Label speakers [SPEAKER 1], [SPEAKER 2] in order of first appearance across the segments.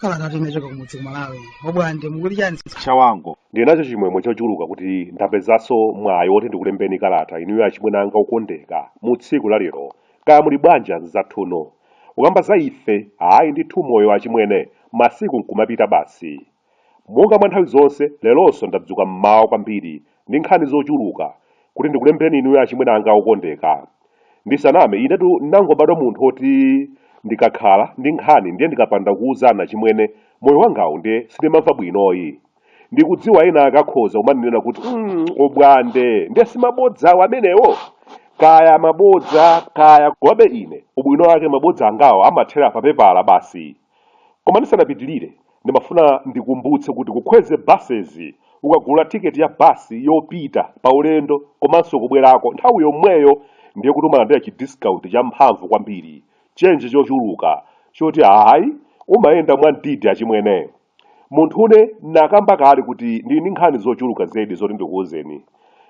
[SPEAKER 1] Kalata yochoka kumudzi kumalawi obwande mukuti chani, chawango ndinacho
[SPEAKER 2] chimwemwe chochuluka kuti ndapezanso mwayi woti ndikulembeni kalata inuyo achimwene anga okondeka mu tsiku la lero kaya muli bwanji anzathuno Kukamba za ife, ayi ndithu moyo achimwene, masiku nkumapita basi. Monga mwa nthawi zonse, leronso ndadzuka m'mawa kwambiri ndi nkhani zochuluka kuti ndikulembereni inuyo achimwene angawo okondeka. Ndisaname, inetu ndinangobadwa munthu oti ndikakhala ndi nkhani ndiye ndikapanda kuuzani achimwene, moyo wangawu ndiye sindimamva bwinoyi. ndikudziwa ena akakhoza kumandinena kuti mm, Obwande nde simabodzawo amenewo kaya mabodza kaya komabe ine ubwino wake mabodza angawo amathera pa pepala basi koma ndisanapitirire ndimafuna ndikumbutse kuti ku Kwezy Buses ukagula tiketi ya basi yopita pa ulendo komanso kubwerako nthawi yomweyo ndiye kuti umalandira chidiscount champhamvu kwambiri chenje chochuluka choti ayi umayenda mwa mdidi achimwene Munthune, n'nakamba kale kuti ndili ndi nkhani zochuluka zedi zoti ndikuuzeni.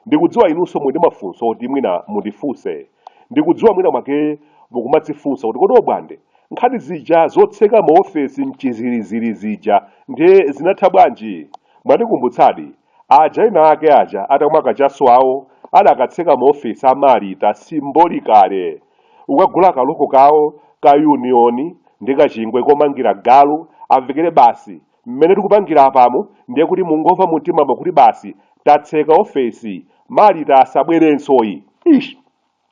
[SPEAKER 2] Ndikudziwa inunso muli ndi mafunso oti mwina mundifunse. Ndikudziwa mwina mwake mukumadzifunsa kuti kodi Obwande, nkhani zija zotseka maofesi m'chizirezire zija ndiye zinatha bwanji? Mwandikumbutsadi. Aja ena ake aja atamwa kachaso awo adakatseka maofesi a Malita symbolically kukagula ka loko kawo ka union ndi ka chingwe komangira galu amvekere basi mmene tikupangira apamo ndiye kuti mungomva mumtimamo kuti basi tatseka office Malita asabwerensoyi! Eish!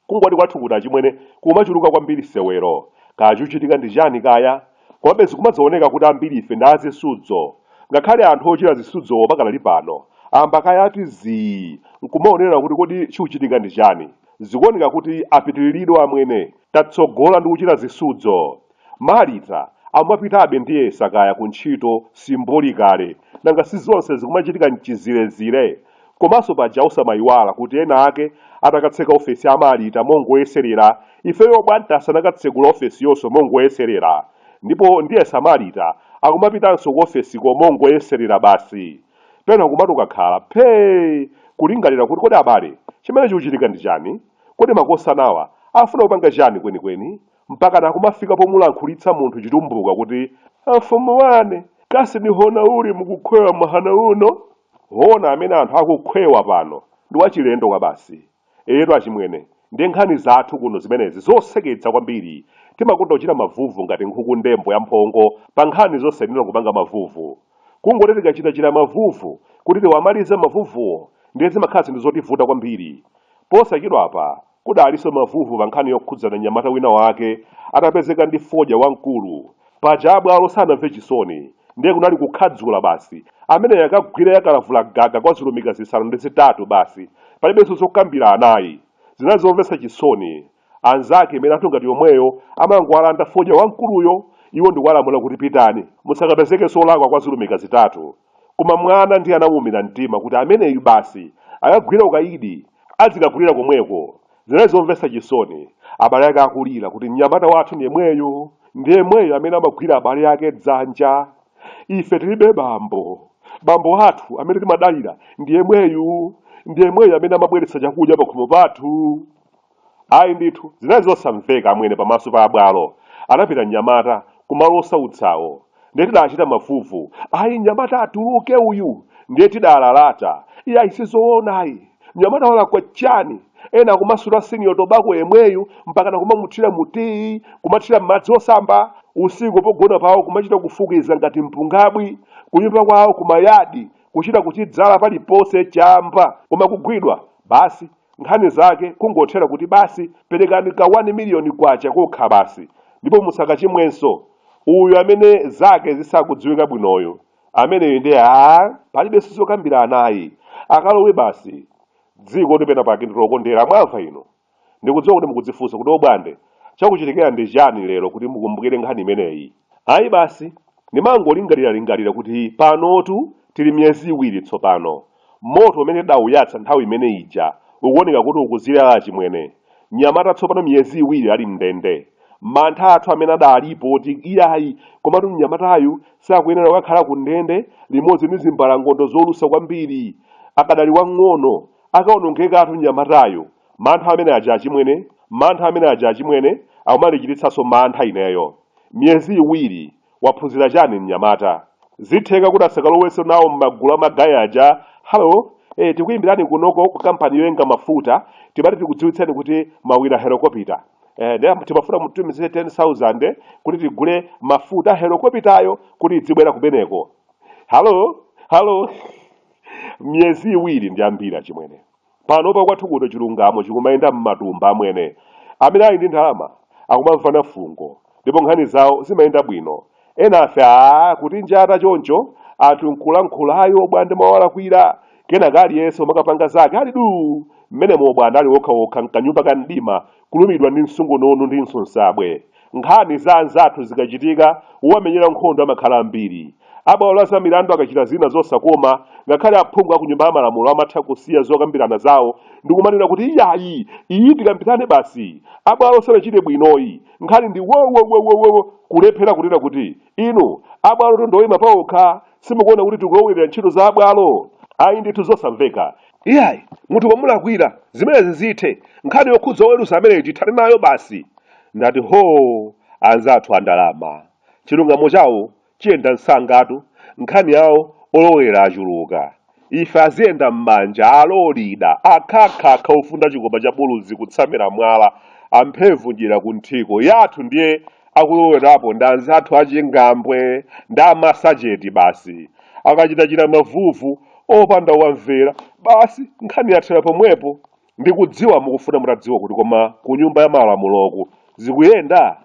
[SPEAKER 2] Kungoti kwathu kuno achimwene kumachuluka kwambiri sewero, kaya chikuchitika ndi chani kaya? Komabe zikumadzaoneka kuti ambirife ndi a zisudzo. Ngakhale anthu ochita zisudzowo pakali pano amba kaye ati zii nkumaonerera kuti kodi chikuchitika ndi chani. Zikuoneka kuti apitiliridwa amwene, tatsogola ndi kuchita zisudzo. Malita akumapitabe ndiyesa kaya ku ntchito symbolically nanga si zonse zikumachitika mchizirezire komanso paja osamayiwala kuti ena ake atakatseka ofesi a Malita mongoyeselera ifeyo Obwande tinakatsekula ofesiyonso mongoyeselera ndipo ndiyesa a Malita akumapitanso ku ofesiko mongoyeselera basi pena kumati ukakhala phee kulingalira kuti kodi abale chimene chikuchitika ndi chani kodi makosanawa afuna kupanga chani kwenikweni mpakana kumafika pomulankhulitsa munthu chitumbuka kuti amfumu wane kasi ni hona uli mukukhwewa mahana uno hona amene anthu akukhwewa pano ndi wachilendo kwabasi eyetu achimwene ndi nkhani zathu kuno zimenezi zoseketsa kwambiri timakonda kuchita mavuvu ngati nkhukundembo ya mphongo pa nkhani zosayenera kupanga mavuvu kungoti tikachitachita mavuvu kuti tiwamalize mavuvuwo ndiye zimakhala zinthu zotivuta kwambiri posachedwapa Kudalinso mavuvu pa nkhani yokhudzana mnyamata wina wake atapezeka ndi fodya wamkulu. Paja a bwalo sanamve chisoni, ndiye kunali kukhadzula basi. Ameneyo akagwire ya kalavula gaga kwa zilumika zisanu ndi zitatu basi, palibenso zokambirana ayi. Zinali zomvetsa chisoni. Anzake milandu ngati yomweyo amangowalanda fodya wamkuluyo, iwo ndikuwalamula kuti pitani, musakapezekenso olakwa kwa zilumika zitatu. Koma mwana ndiye anamuumira mtima kuti ameneyu basi, akagwira ukaidi adzikagwirira komweko. Zinali zomvetsa chisoni, abale ake akulira kuti, Mnyamata wathu ndi yemweyu, ndi yemweyu amene amagwira abale ake dzanja. Ife tilibe bambo. Bambo athu amene timadalira ndi yemweyu, ndi yemweyu amene amabweretsa chakudya pakhomo pathu. Ayi ndithu, zinali zosamveka amwene pamaso pa abwalo. Anapita mnyamata ku malo osautsawo. Ndiye tidaachita mavuvu. Ayi, mnyamata atuluke uyu! Ndiye tidaalalata. Iyayi, si zoona ayi! Mnyamata walakwa chani? Ena akumasuta Senior Tobacco yemweyu mpakana kumamuthira mu tiyi, kumathira m'madzi osamba, usiku pogona pawo kumachita kufukiza ngati mpungabwi, kunyumba kwawo, kumayadi kuchita kuchidzala paliponse, chamba! Koma kugwidwa basi! nkhani zake kungothera kuti basi perekani ka 1 miliyoni kwacha kokha basi ndipo musakachimwenso uyu amene zake zisakudziwika bwinoyo ameneyo ndiye a palibenso zokambirana ayi akalowe basi dzikoli penapake ndi lokondera mwamva inu ndikudziwa kuti mukudzifunsa kuti obwande chakuchitikira ndi chani lero kuti mukumbukire nkhani imeneyi ayi basi ndimangolingaliralingalira kuti panotu tili miyezi iwiri tsopano Moto umene tidawuyatsa nthawi imene ija ukuoneka kuti ukuzilala achimwene. Mnyamata tsopano miyezi iwiri ali m'ndende. Mantha athu amene adaalipo oti iyayi, komatu mnyamatayu sakuyenera kukakhala kundende limodzi ndi zimbalangondo zolusa kwambiri. Akadali wamng'ono, akaonongekatu mnyamatayu. Mantha amene aja achimwene, mantha amene aja achimwene, akumandichititsanso mantha ineyo. Miyezi iwiri! Waphunzira chani mnyamata? Zitheka kuti asakalowenso nawo mmagulu a ma guy aja? Hello? Eh tikuyimbirani kunoko ku company yoyenga mafuta timati tikudziwitseni kuti mwawina helokopita eh nde timafuna mutitumizire 10,000 kuti tigule mafuta a helokopitayo kuti idzibwera kumeneko. Hello? Hello? Miyezi iwiri ndi yambiri achimwene. Panopa kwathu kuno chilungamo chikumayenda mmatumba amwene. Amene ali ndi ndalama akumamvana fungo ndipo nkhani zawo zimayenda bwino. Enafe aah kutinjata choncho anthu nkulankhula ayi obwande mwawalakwira. Kenaka aliyense nkumakapanga zake ali duu! Mmenemo obwande ali okha okha nkanyumba ka mdima Kulumidwa ndi msungunundu ndi nsonsabwe. Nkhani za anzathu zikachitika, wowamenyera nkhondo amakhala ambiri. A bwalo la zamilandu akachita zina zosakoma, ngakhale aphungu a ku Nyumba ya Malamulo amatha kusiya zokambirana zawo ndi kumanena kuti, Iyayi! Iyi tikambirane basi! A bwalo sanachite bwinoyi! Nkhani ndi wowowowowowo! Kulephera kunena kuti, Inu, a bwalo tondoima paokha, simukuona kuti tikuwalowerera ntchito za a bwalo? Ayi ndithu zosamveka! Iyayi, munthu wamulakwira, zimenezi zithe. Nkhani yokhudza oweruza ameneyi tithane nayo basi. Ndati hoo! Anzathu a ndalama. Chilungamo chawo chiyenda msangatu. Nkhani yawo olowera achuluka. Ife aziyenda mmanja, alolida, akhakhakha ofunda chikopa cha buluzi kutsamira mwala, amphevu dyera kunthiko. Yathu ndiye akulowerapo ndi anzathu a chingambwe ndi a masacheti basi. Akachitachita mavuvu. opanda wamvera basi nkhani yathera pomwepo ndikudziwa mukufuna mutadziwa kuti koma ku nyumba ya malamuloku zikuyenda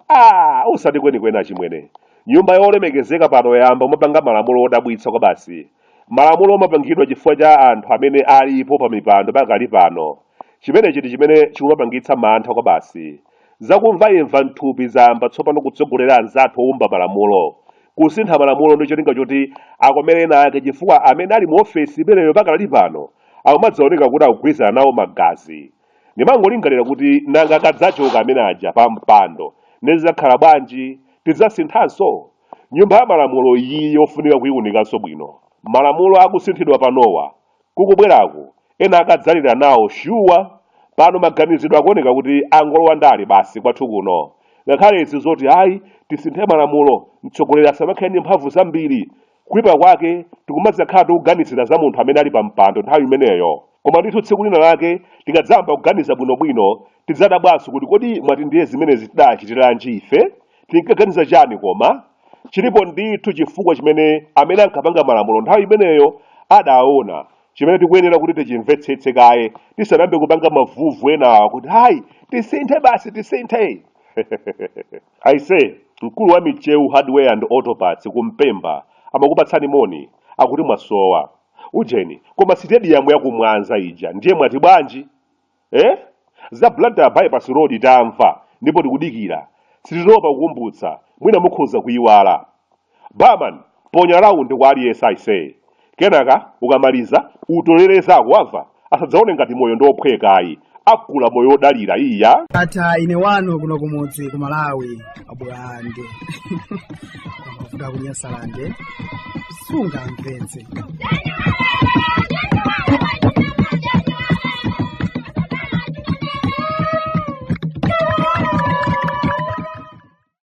[SPEAKER 2] ah usati kwenikweni achimwene nyumba yolemekezeka pano yayamba umapanga malamulo odabwitsa kwabasi malamulo omapangidwa chifukwa cha anthu amene alipo pa mipando pakali pano chimenechi ndi chimene chikumapangitsa mantha kwabasi Zakumvaimva m'thupi zayamba tsopano kutsogolera anzathu oumba malamulo kusintha malamulo ndi cholinga choti akomere ena ake chifukwa amene ali mu ofesi imeneyo pakadali pano akumadzaoneka kuti akugwirizana nawo magazi. Ndimangolingalira kuti nanga akadzachoka amene aja pampando ndiye zidzakhala bwanji? Tidzasinthanso? Nyumba ya Malamulo iyi yofunika kuiunikanso bwino. Malamulo akusinthidwa panowa Kukubwerako ena akadzalira nawo shuwa pano maganizidwe akuoneka kuti angolowa ndale basi kwathu kuno ngakhale izi zoti ayi tisinthe malamulo mtsogoleri asamakhale ndi mphamvu zambiri kuipa kwake tikumadzakhala tikuganizira za munthu amene ali pampando nthawi imeneyo koma ndithu tsiku lina lake tikadzayamba kuganiza bwinobwino tidzadabwanso kuti kodi mwati ndiye zimenezi tidachitiranji ife? tinkaganiza chani koma chilipo ndithu chifukwa chimene amene ankapanga malamulo nthawi imeneyo adaona chimene tikuyenera kuti tichimvetsetse kaye tisanayambe kupanga mavuvu enawa kuti hayi tisinthe basi tisinthe aise mkulu wa micheu hardware and auto parts kumpemba amakupatsani moni akuti mwasowa ujeni koma sitediyamu yakumwanza ija ndiye mwati bwanji eh? za blantyre bypass road tamva ndipo tikudikira sititopa kukumbutsa mwina mukhoza kuyiwala barman ponya raundi kwa aliyense aise kenaka ukamaliza utolere zako wamva asadzaone ngati moyo ndi ophwekayi akula moyo odalira iya atha ine wanu
[SPEAKER 1] kuno kumudzi ku malawi abulande kuvuga kunyasalande sungamvetse